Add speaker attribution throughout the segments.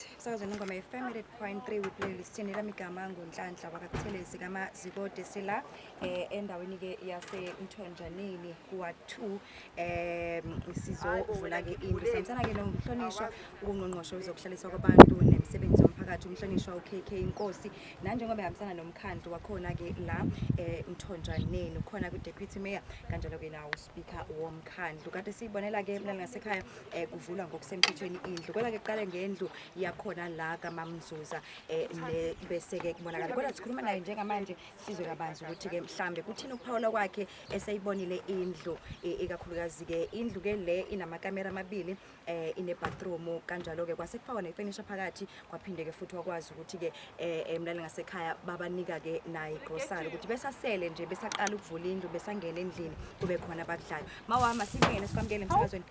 Speaker 1: Connect. Sakaze nengoma ye-Family at Point 3 we play lisithini lami igama ngunhlanhla wakathelezi kamazikode sila eh endaweni ke yase Mthonjaneni kuwa 2 eh sizovula ke into senzana ke nomhlonishwa ungqongqoshe uzokuhlaliswa kwabantu nemsebenzi yomphakathi umhlonishwa uKK Inkosi nanjengoba ehambisana nomkhandlu wakhona ke la eh Mthonjaneni ukhona ku Deputy Mayor kanjalo ke nawo Speaker womkhandlu kade siyibonela ke mlali ngasekhaya eh, kuvulwa ngokusemthethweni indlu kodwa ke kuqale ngendlu yakhona la kamamzuza eh, ne- bese ke kubonakala kodwa sikhuluma naye njengamanje sizwe kabanzi ukuthi ke mhlambe kuthini ukuphawula kwakhe eseyibonile indlu eh, ikakhulukazi ke indlu ke le inamakamera amabili eh ine bathroom kanjalo ke kwase kufakwa ne furniture phakathi kwaphinde ke futhi wakwazi ukuthi ke eh, eh mlali ngasekhaya babanika ke nayi grocery ukuthi besasele nje besaqala ukuvula indlu besangena endlini kube khona abakudlayo mawama singene sikwamkele emsakazweni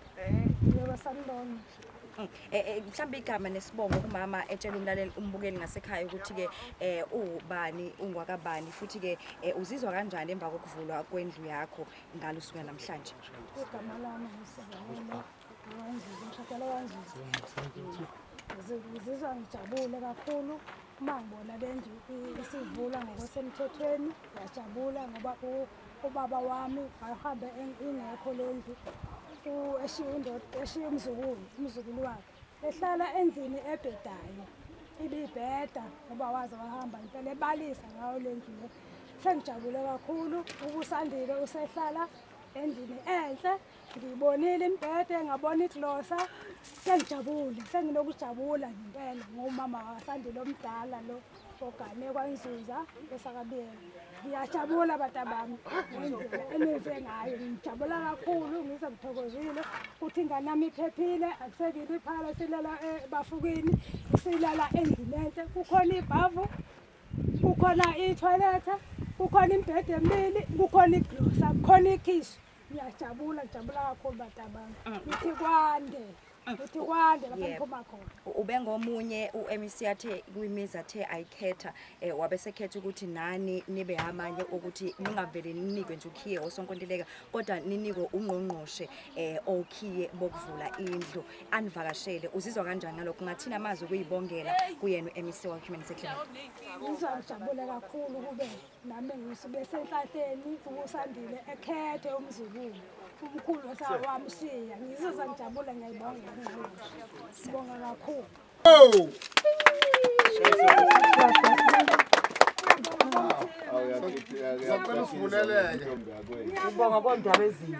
Speaker 1: Yebo
Speaker 2: sanibona. Mm. Eh, eh,
Speaker 1: mhlawumbe igama nesibongo kumama etshela umlaleli umbukeli ngasekhaya ukuthi ke eh ubani ungwakabani futhi ke eh, uzizwa kanjani emva kokuvulwa kwendlu yakho ngalo suka namhlanje Igama lami
Speaker 2: ngisebenza. ngizizwa ngijabule kakhulu uma ngibona le ndlu isivula ngokusemthethweni ngiyajabula ngoba ubaba wami ahambe ingekho le ndlu eshiye indoda eshiye umzukulu umzukulu wakhe ehlala endlini ebhedayo ibibheda ngoba waze wahamba impela ebalisa ngayo le ndlu le sengijabule kakhulu ukusandile usehlala endlini enhle Ngibonile imbhede, ngabona iglosa, sengijabule, senginokujabula ngempela ngomama wasandile omdala lo ogane kwanzuza esakabiyela. Ngiyajabula batabami ngendlela enenze ngayo, ngijabula kakhulu, ngize ngithokozile ukuthi ingane yami iphephile, akusekile iphala silala ebafukini, eh, silala endlini enhle, kukhona ibhavu, kukhona ithoyilethe, kukhona imbhede emibili, kukhona iglosa, kukhona ikhishi. Ngiyajabula, ngijabula kakhulu batabami. Mm. Ngithi kwande. Mm. Ngithi kwande lapha ngiphuma khona. Ubengomunye
Speaker 1: uMC athe kwimizi athe ayikhetha eh wabe sekhetha ukuthi nani nibe amanye ukuthi ningavele ninikwe nje ukhiye osonkontileka kodwa ninikwe ungqongqoshe eh okhiye bokuvula indlu anivakashele uzizwa kanjani ngalokho ngathina amazi ukuyibongela kuyena uMC wa Human Security. Ngizwa ngijabule
Speaker 2: kakhulu kube nami ngisuke senhlahleni ukusandile ekhethe umzukulu umkhulu osawamshiya ngizoza ngijabule ngiyayibonga sibonga kakhulu oh!
Speaker 3: Sacela
Speaker 4: usivuleleke. Ubonga
Speaker 3: kondaba ezinhle.